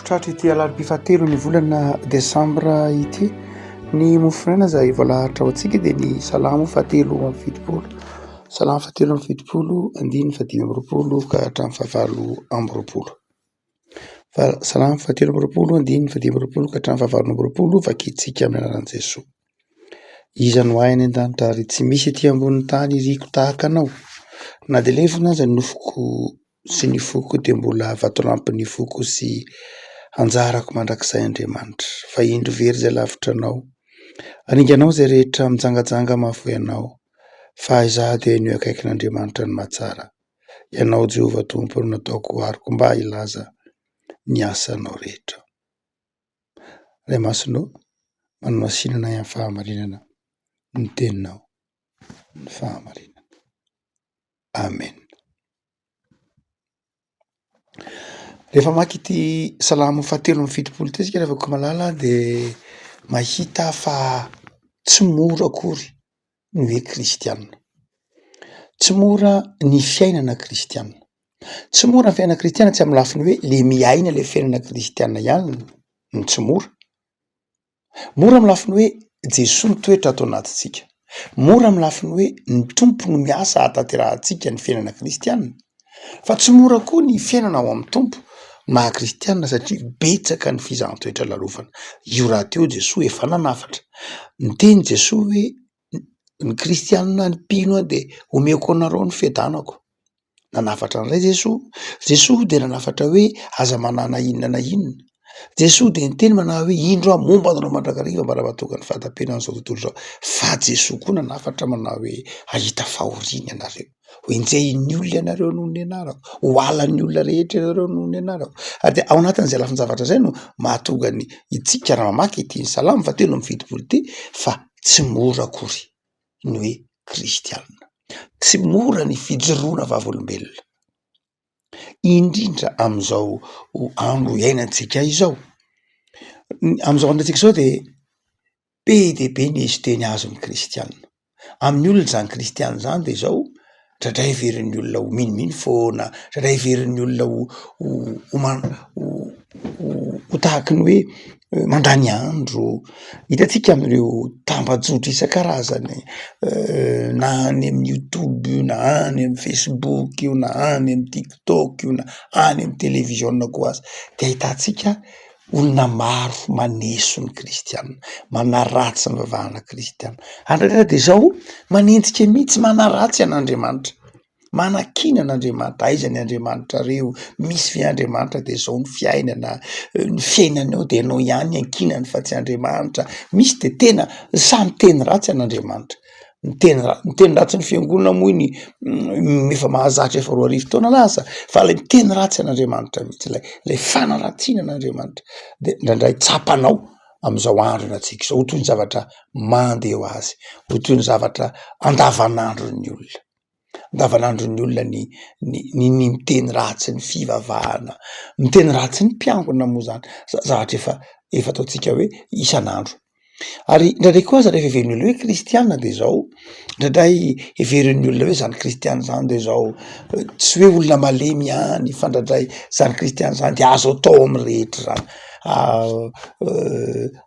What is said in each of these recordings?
Tratry ity alarobia fahatelon'ny volana desambra ity ny mofonaina izay voalaharitra ho antsika dia ny salamo fahatelo amby fitopolo, salamo fahatelo amby fitopolo andininy fahadimy amby roapolo ka hatramin'ny fahavalo amby roapolo, salamo fahatelo amby roapolo andininy fahadimy amby roapolo ka hatramin'ny fahavalo amby roapolo vakintsika amin'ny anaran'i Jesoa. Iza no ahy any an-danitra ary tsy misy ety ambonin'ny tany iriko tahaka anao na dia lefona aza ny nofoko. sy ny foko dia mbola vatolampin'ny foko sy anjarako mandrakizay Andriamanitra fa indro very izay lavitra anao aringanao izay rehetra mijangajanga mahafoy anao fa izaho dia ny eo akaikin'Andriamanitra ny mahatsara ianao Jehovah Tompo no nataoko ariko mba hilaza ny asanao rehetra Ray Masina ô manomasinana ahy amin'ny fahamarinana ny teninao ny fahamarinana Amen. Rehefa mamaky ity salamo fahatelo amby fitopolo ity tsika ry havako malala de mahita fa tsy mora akory ny hoe kristiana, tsy mora ny fiainana kristiana, tsy mora ny fiainana kristiana tsy amin'ny lafiny hoe le miaina le fiainana kristiana ihany no tsy mora Mora amin'ny lafiny hoe Jesoa mitoetra ato anatintsika. Mora amin'ny lafiny hoe ny Tompo no miasa hahatanterahantsika ny fiainana kristiana. Fa tsy mora koa ny fiainana ao amin'ny Tompo maha kristiana satria betsaka ny fizahan-toetra lalovana. Io rahateo Jesoa efa nanafatra. Niteny Jesoa hoe ny kristianina ny mpino a de omeko anareo ny fiadanako, nanafatra an'ilay Jesoa, Jesoa dia nanafatra hoe aza manana inona na inona, Jesoa dia niteny manana hoe indro aho momba anareo mandrakariva mba raha mahatonga ny fahatapenan'izao tontolo izao, fa Jesoa koa nanafatra manao hoe hahita fahoriana ianareo. ho enjehin'ny olona ianareo noho ny anarako, ho halan'ny olona rehetra ianareo noho ny anarako. Ary dia ao anatin'izay lafin-javatra izay no mahatonga ny isika raha mamaky ity salamo fa telo amby fitopolo ity fa tsy mora akory ny hoe kristianina. Tsy mora ny fijoroana vavolombelona, indrindra amin'izao andro iainantsika izao. Amin'izao andro iainantsika izao dia Be dia be ny eziteny azon'ny kristiana. Amin'ny olona izany kristiana izany dia izao, tratray heverin'ny olona ho minomino foana, tratray heverin'ny olona ho ho man- ho ho tahaky ny hoe mandany andro. Hitantsika amin'ireo tambajotra isan-karazany na any amin'ny youtube io na any amin'ny facebook io na any amin'ny tiktok io na any amin'ny televiziona koa aza dia ahitantsika olona maro maneso ny kristiana, manaratsy ny vavahana kristiana, andraikitra dia izao manenjika mihitsy, manaratsy an'Andriamanitra, manakiana an'Andriamanitra, aiza ny Andriamanitrareo, misy ve Andriamanitra dia izao ny fiainana, ny fiainanao dia ianao ihany iankinany fa tsy Andriamanitra, misy dia tena samy teny ratsy an'Andriamanitra. Miteny ra- miteny ratsy ny fiangonana moa iny efa mahazatra efa roa arivo taona lasa fa ilay miteny ratsy an'Andriamanitra mihitsy ilay ilay fanaratsiana an'Andriamanitra dia indraindray tsapanao amin'izao andro iainantsika izao ho toy ny zavatra mandeha ho azy, ho toy ny zavatra andavanandron'ny olona. andavanandron'ny olona ny ny ny ny miteny ratsy ny fivavahana, miteny ratsy ny mpiangona moa zany za- zavatra efa efa ataontsika hoe isan'andro. Ary indraindray koa aza rehefa heverin'ny olona hoe kristiana de zao, indraindray heverin'ny olona hoe zany kristiana zany de zao, tsy hoe olona malemy ihany fa indraindray zany kristiana zany de azo atao am'rehetra zany.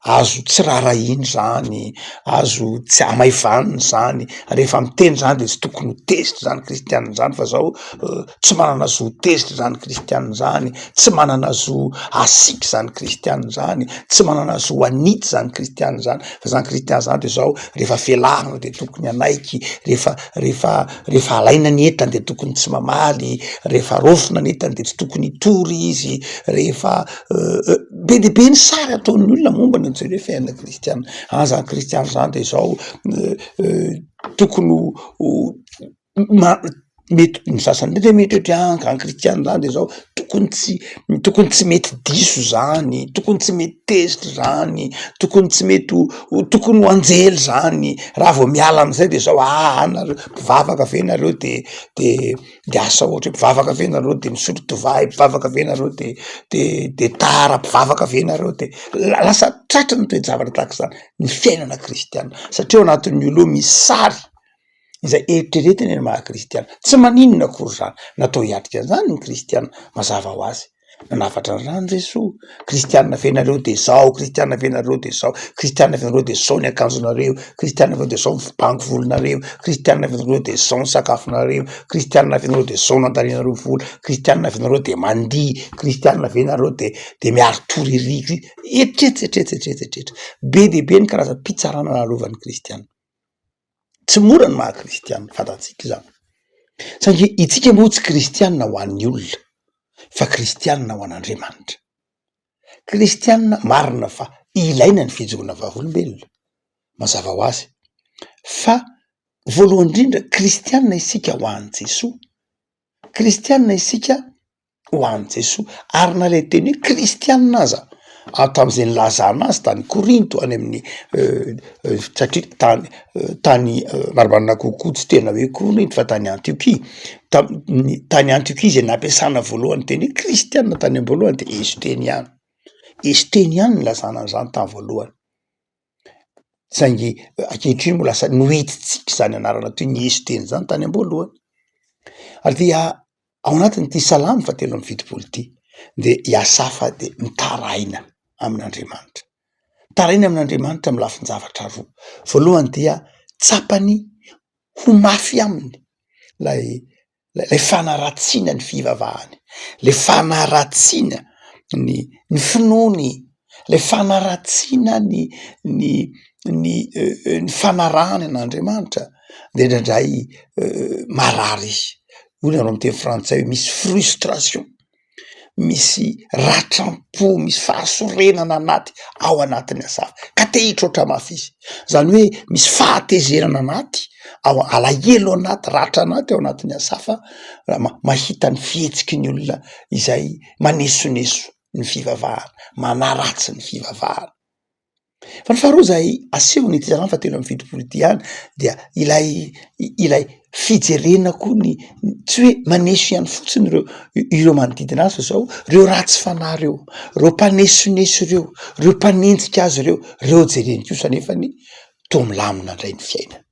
azo tsy raharahiana izany, azo tsy hamaivanina izany, rehefa miteny izany dia tsy tokony ho tezitra izany kristianina izany fa zao tsy manana zo tezitra izany kristianina izany, tsy manana zo hasiaka izany kristianina izany, tsy manana zo hanitsy izany kristianina izany fa izany kristianina izany dia zao rehefa velavo dia tokony hanaiky, rehefa rehefa rehefa alaina ny entany dia tokony tsy mamaly, rehefa raofina ny entany dia tsy tokony hitory izy, rehefa be dia be ny sary ataon'ny olona momba ny an'izay hoe fiainana kristianina. Ary izany kristianina izany dia izao tokony ho ma- mety ny sasany mety mieritreritra hoe anga ny kristianina izany dia izao tokony tsy tokony tsy mety diso izany, tokony tsy mety tezitra izany, tokony tsy mety ho ho tokony ho anjely izany, raha vao miala amin'izay dia izao aa nareo mpivavaka ve nareo de de. de asa ohatra hoe mpivavaka ve nareo de misotro divay mpivavaka ve nareo de de de tara mpivavaka ve nareo de la- lasa tratry ny toe-javatra tahaka izany ny fiainana kristiana satria ao anatin'ny olo eo misy sary izay eritreretiny ny maha kristiana, tsy maninona akory zany, natao hiatrika an'izany ny kristiana mazava ho azy. nanafatra ny rano Jesoa, kristianina ve nareo de zao, kristianina ve nareo de zao, kristianina ve nareo de zao ny akanjonareo, kristianina ve nareo de zao ny bango volonareo, kristianina ve nareo de zao ny sakafonareo, kristianina ve nareo de zao nandanianareo vola, kristianina ve nareo de mandihy, kristianina ve nareo de de miaro toririky, etsetra etsetra etsetra etsetra, be dia be ny karazam-pitsarana nalovan'ny kristianina. Tsy mora ny maha kristianina, fantatsika izany, saingy itsika moa tsy kristianina ho an'ny olona fa kristianina ho an'Andriamanitra. Kristianina marina fa ilaina ny fijoroana vavolombelona, mazava ho azy, fa voalohany indrindra kristianina isika ho an'i Jesoa, kristianina isika ho an'i Jesoa ary na le teny hoe kristianina aza ary tamin'izay nilazana azy tany Korinto any amin'ny satria tany tany marimarina kokoa tsy tena hoe Korinto fa tany Antiokia tamin'ny tany Antiokia izay nampiasana voalohany teny hoe kristianina tany am-boalohany dia ezo teny ihany ezo teny ihany nilazana an'izany tamin'ny voalohany saingy ankehitriny moa lasa nohitintsika izany anarana toy ny Izy Teny izany tany am-boalohany, ary dia ao anatin'ity salamo fahatelo amby fitopolo ity dia i Asafa dia mitaraina amin'Andriamanitra, mitaraina amin'Andriamanitra amin'ny lafin-javatra roa, voalohany dia tsapany ho mafy aminy ilay ilay fanaratsiana ny fivavahany, ilay fanaratsiana ny ny finoany, ilay fanaratsiana ny ny ny ny fanarahany an'Andriamanitra dia indraindray marary izy, hoy ny any amin'ny teny frantsay hoe misy frustration. misy ratram-po, misy fahasorenana anaty ao anatin'ny asa hafa ka te hitroatra mafy izy. Izany hoe misy fahatezerana anaty ao alahelo anaty ratra anaty ao anatin'ny asa hafa raha mahita ny fihetsiky ny olona izay manesoneso ny fivavahana, manaratsy ny fivavahana. Fa ny faharoa zay asehony ity zalahy fa telo amby fitopolo ity ihany dia ilay ilay fijerena koa ny tsy hoe maneso ihany fotsiny ireo ireo manodidina azy fa zao reo ratsy fanahy reo, reo mpanesoneso reo, reo mpanenjika azy reo, reo jereny kosa nefany toa milamina ndray ny fiainany.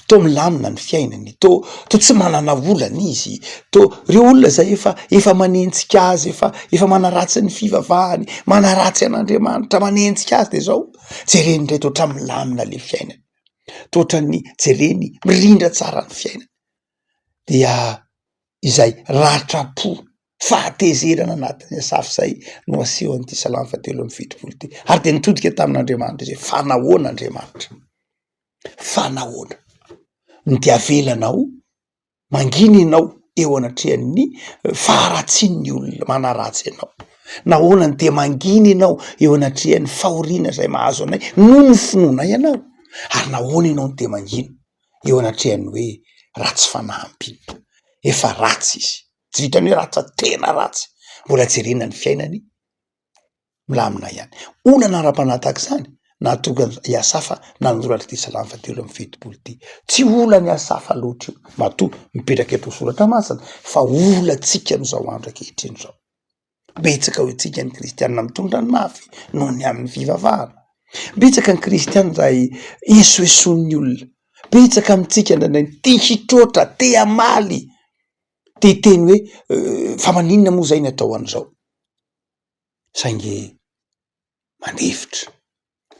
toa milamina ny fiainany, toa toa tsy manana olana izy, toa reo olona zay efa efa manenjika azy, efa efa manaratsy ny fivavahany, manaratsy an'Andriamanitra, manenjika azy de zao jereny indray de ohatran'ny milamina le fiainany, toa ohatran'ny jereny mirindra tsara ny fiainany, dia izay ratra-po, fahatezerana anatin'ny asafo zay no asehon'ity salamo fahatelo amby fitopolo ity, ary de nitodika tamin'Andriamanitra izy hoe fa nahoana Andriamanitra? Fa nahoana no dia avelanao mangina ianao eo anatrehan'ny faharatsian'ny olona manaratsy anao? Nahoana no dia mangina ianao eo anatrehan'ny fahoriana izay mahazo anay noho ny finoanay ianao? Ary nahoana ianao no dia mangina eo anatrehan'ny hoe ratsy fanahy mpino? Efa ratsy izy, tsy vitan'ny hoe ratsy fa tena ratsy. Mbola jerena ny fiainany. milamina ihany. Olana ara-panahy tahaka izany nahatonga i Asafa nanoratra ity salamo fahatelo amby fitopolo ity. Tsy olan'i Asafa loatra io matoa mipetraka eto soratra masina fa olantsika amin'izao andro ankehitriny izao. Betsaka ao antsika ny kristianina mitondra ny mafy noho ny amin'ny fivavahana. Betsaka ny kristianina izay esoesoan'ny olona. Betsaka amintsika indraindray ny te hitroatra, te hamaly, te hiteny hoe fa maninona moa izay ny atao an'izao. saingy mandefitra,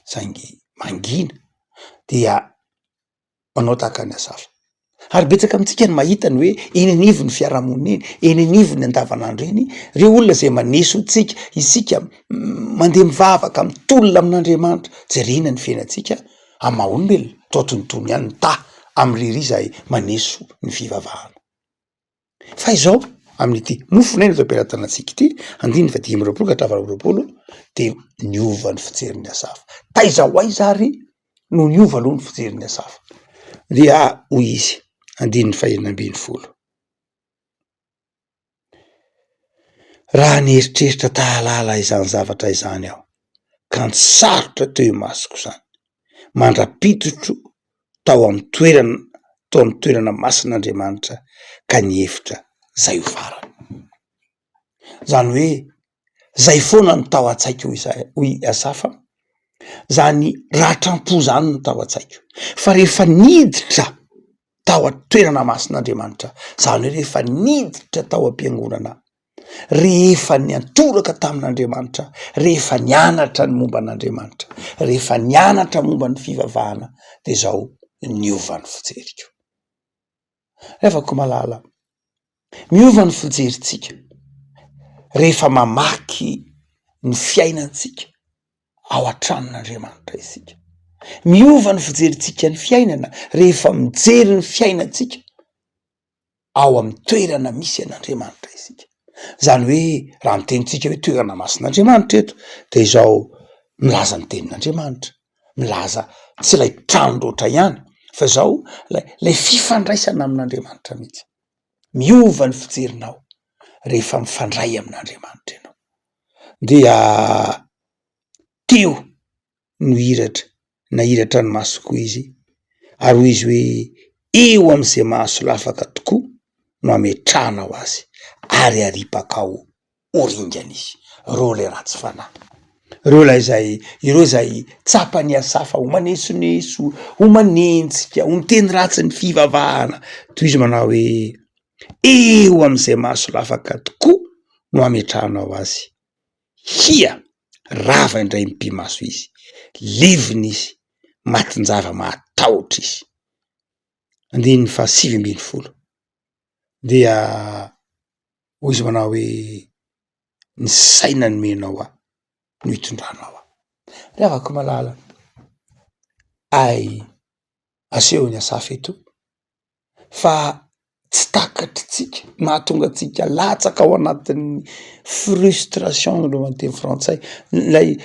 saingy mangina dia manao tahaka ny asafo. Ary betsaka amintsika no mahita ny hoe eny anivon'ny fiarahamonina eny, eny anivon'ny andavanandro eny ireo olona izay maneso antsika, isika mandeha mivavaka, mitolona amin'Andriamanitra, jerena ny fiainantsika amin'ny maha olombelona toa toy ny tony ihany, mitaha amin'ny ry ry izay maneso ny fivavahana. fa izao amin'ity mofo nay no tampelatanantsika ity andininy fa dimy amby roapolo ka hatramin'ny valo amby roapolo dia niova ny fijerin'ny asafo taiza ho aiza ary no niova aloha ny fijerin'ny asafo dia hoy izy andininy fahenina ambin'ny folo raha nieritreritra tahalala izany zavatra izany aho ka ny sarotra teo imasoko izany mandra-pitotro tao amin'ny toerana tao amin'ny toerana masina Andriamanitra ka nihevitra izay ho farany. Izany hoe izay foana no tao an-tsaiko hoy iza hoy i Asafa, izany ratram-po izany no tao an-tsaiko fa rehefa niditra tao an-toerana masin'Andriamanitra, izany hoe rehefa niditra tao am-piangonana aho. rehefa niantoraka tamin'Andriamanitra, rehefa nianatra ny momba an'Andriamanitra, rehefa nianatra momba ny fivavahana dia izao niova ny fijeriko. Ry havako malala, miova ny fijerintsika rehefa mamaky ny fiainantsika ao an-tranon'Andriamanitra isika. Miova ny fijerintsika ny fiainana rehefa mijery ny fiainantsika ao amin'ny toerana misy an'Andriamanitra isika, izany hoe raha ny tenintsika hoe toerana masin'Andriamanitra eto dia izao milaza ny tenin'Andriamanitra, milaza tsy ilay trano loatra ihany fa izao ilay ilay fifandraisana amin'Andriamanitra mihitsy, miova ny fijerinao rehefa mifandray amin'Andriamanitra ianao dia teo. no hiratra na hiratra ny masoko koa izy ary hoy izy hoe eo amin'izay mahasolafaka tokoa no ametrahanao azy ary aripaka ao ho ringana izy reo ilay ratsy fanahy reo ilay izay ireo izay tsapan'i asafa ho manesoneso ho manenjika ho miteny ratsy ny fivavahana toy izy manao hoe eo amin'izay mahasolafaka tokoa no ametrahanao azy Hia! Rava indray ny pimaso izy. Levona izy. Matin-java mahatahotra izy. Andininy faha sivy ambin'ny folo. Dia hoy izy manao hoe, ny saina nomenao ahy no hitondranao ahy. Ry havako malala, hay asehon'i Asafa eto fa tsy takatritsika, mahatonga antsika latsaka ao anatin'ny frustration aloha ny teny frantsay, ilay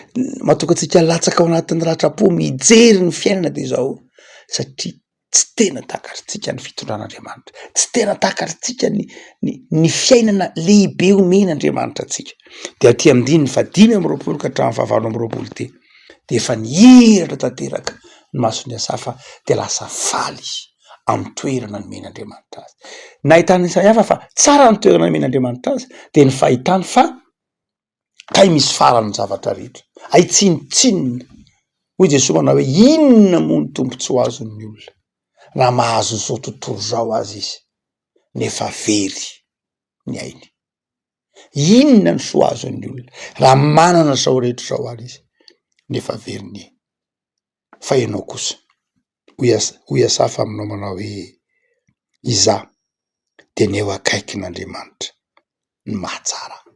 mahatonga antsika latsaka ao anatin'ny ratram-po mijery ny fiainana dia izao satria tsy tena takatritsika ny fitondran'Andriamanitra, tsy tena takatritsika ny ny ny fiainana lehibe omen'Andriamanitra antsika dia aty amin'ny andininy fahadimy amby roapolo ka hatramin'ny fahavalo amby roapolo ity. dia efa nihiratra tanteraka ny mason'i Asafa dia lasa faly izy amin'ny toerana nomen'Andriamanitra azy. Nahitan'i Isaiafa fa tsara ny toerana nomen'Andriamanitra azy dia ny fahitany fa kay misy farany ny zavatra rehetra, hay tsinontsinona. Hoy Jesoa manao hoe inona moa ny tombontsoa azon'ny olona raha mahazo izao tontolo izao aza izy nefa very ny ainy. Inona ny soa azon'ny olona raha manana zao rehetra zao ary izy nefa very ny ainy? Fa ianao kosa, hoy Asa, hoy Asafa aminao manao hoe, Izaho dia ny eo akaikin'Andriamanitra no mahatsara ahy.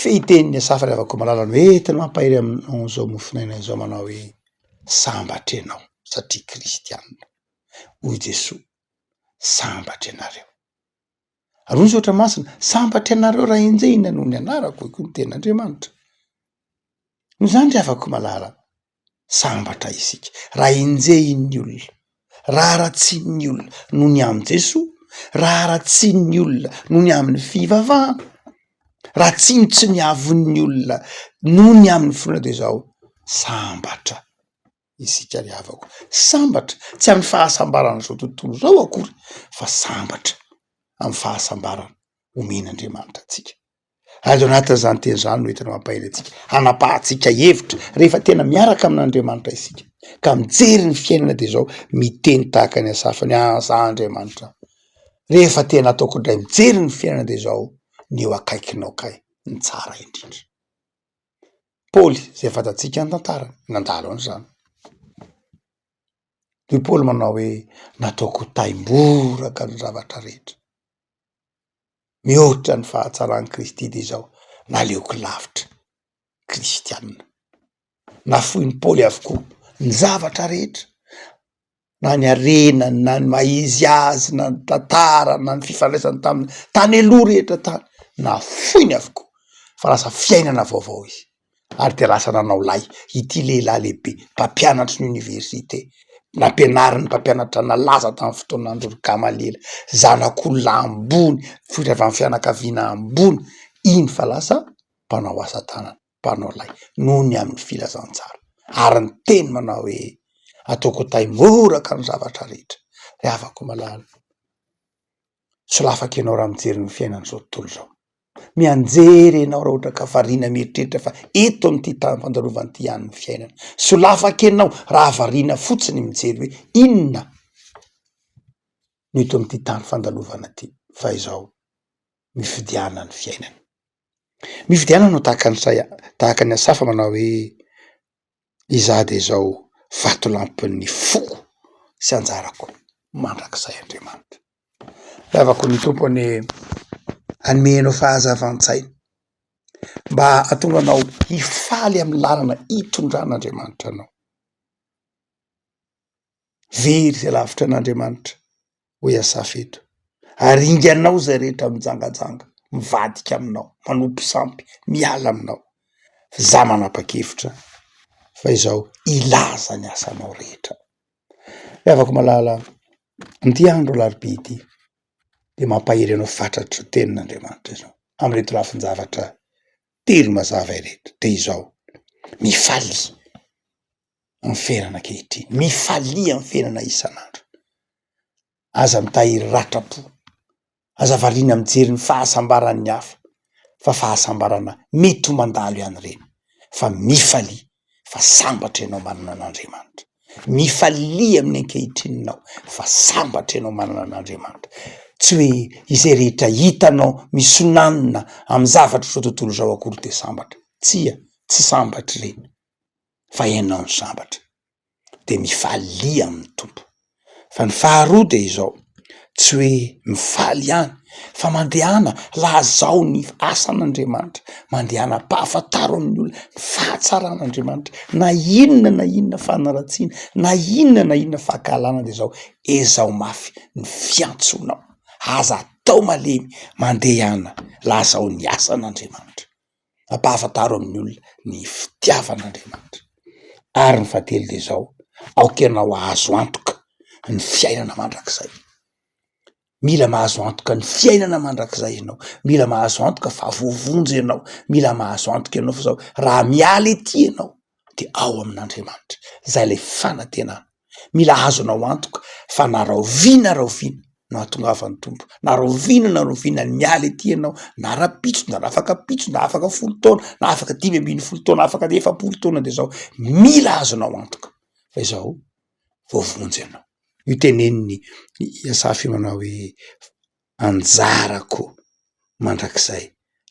Fehiten'i Asafa ry havako-malala no entina mampahery anao izao mofonaina izao manao hoe, Sambatra ianao satria kristianina. Hoy Jesoa, Sambatra ianareo. Arovy zotra masina, sambatra ianareo raha enjehina noho ny anarako, hoy koa ny tenin'Andriamanitra. Noho izany ry havako malala, sambatra isika raha enjehin'ny olona, raha haratsian'ny olona noho ny amin'i Jesoa, raha haratsian'ny olona noho ny amin'ny fivavahana, raha tsiny tsy ny avon'ny olona noho ny amin'ny finoana dia izao, sambatra. isika ry havako. Sambatra, tsy amin'ny fahasambaran'izao tontolo izao akory, fa sambatra amin'ny fahasambarana omen'Andriamanitra antsika. Ary ao anatin'izany teny izany no entina mampahery antsika, hanapahantsika hevitra, rehefa tena miaraka amin'Andriamanitra isika, ka mijery ny fiainana dia izao, miteny tahaka ny Asafa ny ahy za Andriamanitra, rehefa tena ataoko indray mijery ny fiainana dia izao, ny eo akaikinao kay ny tsara indrindra. Paoly izay fantatsika ny tantara nandalo an'izany. I Paoly manao hoe nataoko ho taimboraka ny zavatra rehetra, mihoatra ny fahatsaran'i Kristy dia izao naleoko lavitra kristianina. Nafoin'i Paoly avokoa ny zavatra rehetra. na ny harena na ny maha izy azy na ny tantara na ny fifandraisany taminy tany aloha rehetra tany nafoiny avokoa fa lasa fiainana vaovao izy ary dia lasa nanao lay ity lehilahy lehibe mpampianatry ny oniversite nampianariny mpampianatra nalaza tamin'ny fotoan'andro ry Gamaliela zanak'olona ambony vohitra avy amin'ny fianakaviana ambony iny fa lasa mpanao asa tanana mpanao lay noho ny amin'ny filazantsara ary ny teny manao hoe ataoko tay moraka ny zavatra rehetra ry havako malala solafaka ianao raha mijery ny fiainan'izao tontolo izao mianjery ianao raha ohatra ka variana mieritreritra fa eto amin'ity tany fandalovana ity ihany ny fiainana solafaka ianao raha variana fotsiny mijery hoe inona no eto amin'ity tany fandalovana ity fa izao mifidianany fiainana Mifidianana ho tahaka ny sahy tahaka ny asafa manao hoe izaho dia izao vatolampin'ny foko sy anjarako mandrakizay Andriamanitra. Lavako ny Tompo anie hanome anao fahazavan-tsaina mba hahatonga anao hifaly amin'ny lalana itondran'Andriamanitra anao. Very izay lavitra an'Andriamanitra, hoy Asafa eto. Ary inganao izay rehetra mijangajanga, mivadika aminao, manompo sampy, miala aminao. Fa izaho manapa-kevitra fa izao hilaza ny asanao rehetra. Ry havako malala, amin'ity andro alarobia ity dia mampahery anao fatratra ny tenin'Andriamanitra izao, amin'ireto lafin-javatra telo mazava ireto. Dia izao, mifalia! ny ferana ankehitriny, mifalia ny ferana isan'andro, aza mitahiry ratram-po, aza variana mijery ny fahasambaran'ny hafa fa fahasambarana mety ho mandalo ihany ireny fa mifalia fa sambatra ianao manana an'Andriamanitra, mifalia amin'ny ankehitriny ianao fa sambatra ianao manana an'Andriamanitra, tsy hoe izay rehetra hitanao misonanina amin'ny zavatr'izao tontolo izao akory dia sambatra, tsia, tsy sambatra ireny. fa ianao no sambatra de mifalia amin'ny Tompo, fa ny faharoa dia izao tsy hoe mifaly ihany fa mandehana lazao ny asan'Andriamanitra, mandehana ampahafantaro amin'ny olona ny fahatsaran'Andriamanitra na inona na inona fanaratsiana na inona na inona fankahalana dia izao ezaho mafy ny fiantsonao, aza atao malemy, mandehana lazao ny asan'Andriamanitra. ampahafantaro amin'ny olona ny fitiavan'Andriamanitra ary ny fahatelo dia izao aoka ianao ahazo antoka ny fiainana mandrakizay, mila mahazo antoka ny fiainana mandrakizay ianao, mila mahazo antoka fa voavonjy ianao, mila mahazo antoka ianao fa zao raha miala ety ianao. dia ao amin'Andriamanitra, izay ilay fanantenana. Mila azo anao antoka fa na rahoviana rahoviana no hahatongavan'ny Tompo, na rahoviana na rahoviana ny miala ety ianao, na rahampitso na rafakapitso na afaka folo taona na afaka dimy ambin'ny folo taona, afaka efapolo taona dia izao, mila azo anao antoka fa izao voavonjy ianao. Io tenenin'i Asafy io manao hoe. anjarako mandrakizay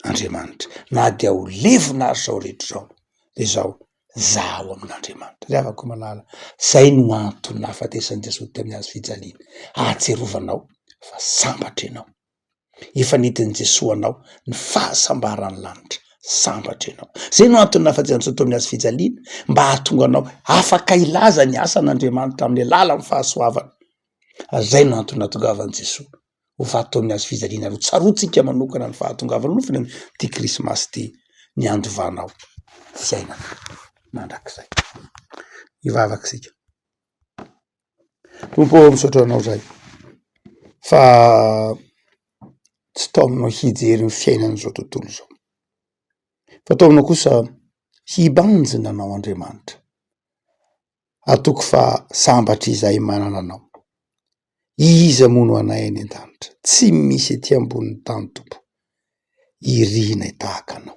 Andriamanitra na dia ho levona ary zao rehetra izao de zao zaho amin'Andriamanitra zay afaka manala zay no antony nahafatesan'i Jesoa tamin'ny hazo fijaliana ahatsirovanao fa sambatra ianao efa nentin'i Jesoa anao ny fahasambaran'ny lanitra sambatra ianao zay no antony nahafatesan'i Jesoa tamin'ny hazo fijaliana mba hahatonga anao afaka hilaza ny asan'Andriamanitra amin'ny alalan'ny fahasoavany ary izay no antony nahatongavan'i Jesoa ho vato tao amin'ny hazo fijaliana ary ho tsaroantsika manokana ny fahatongavan'ny nofony amin'ity krismasy ity ny handovana ao fiainana mandrakizay hivavaka isika Tompo ô misaotra anao zay fa tsy tao aminao hijery ny fiainan'izao tontolo izao fa tao aminao kosa hibanjina anao Andriamanitra Hatoky fa sambatra izahay manana anao. Iza moa no anay any an-danitra? Tsy misy ety ambonin'ny tany Tompo irianay tahaka anao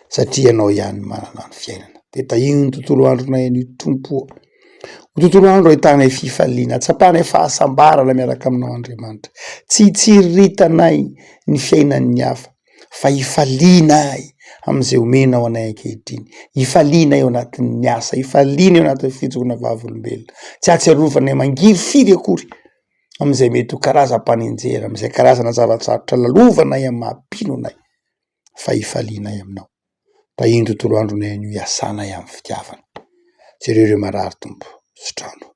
satria ianao ihany manana ny fiainana. Dia tahiny ny tontolo andronay anio Tompo o. Ho tontolo andro ahitanay fifaliana, hatsapanay fahasambarana miaraka aminao Andriamanitra. Tsy hitsiriritana ny fiainan'ny hafa. fa ifaliana ahy amin'izay omenao anay ankehitriny, ifaliana ahy ao anatin'ny asa, ifaliana eo anatin'ny fijoroana vavolombelona, tsy ahatsiarovanay mangiri firy akory amin'izay mety ho karazam-panenjehana, amin'izay karazana zava-tsarotra lalovanay amin'ny maha mpino anay, fa ifaliana ahy aminao, raha iny tontolo andronay iny no iasanay amin'ny fitiavana, jereo ireo marary Tompo, sotrano.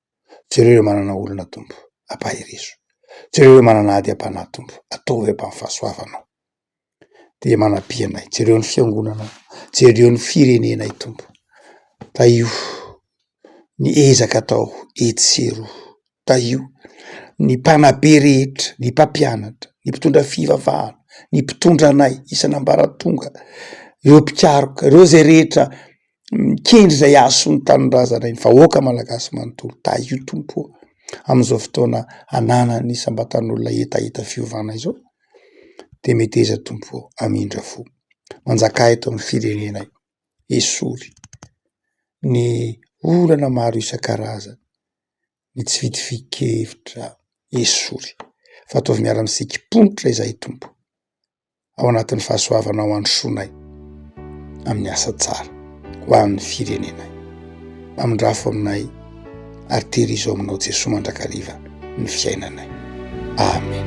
Jereo ireo manana olona Tompo, ampaherezo. Jereo ireo manana ady am-panahy Tompo, ataovy ampy amin'ny fahasoavanao. Dia manapia anay, jereo ny fiangonanao, jereo ny firenenay Tompo, tahio ny ezaka atao etsy sy eroa, tahio ny mpanabe rehetra, ny mpampianatra, ny mpitondra fivavahana, ny mpitondra anay isan'ambaratonga, ireo mpikaroka, ireo izay rehetra mikendry izay hahasoa ny tanindrazana ny vahoaka malagasy manontolo tahy io tompo ô! amin'izao fotoana ananan'ny isam-batan'olona hetaheta fiovana izao de meteza tompo ô! hamindra fo manjaka eto amin'ny firenenay esory ny olana maro isan-karazany ny tsy vitsivitsy kevitra esory fa ataovy miara-misikim-ponitra izahay tompo ao anatin'ny fahasoavanao handrosoanay amin'ny asa tsara ho an'ny firenenay. Mpamindrafo aminay ary tehirizo aminao Jesoa mandrakariva ny fiainanay. Amen.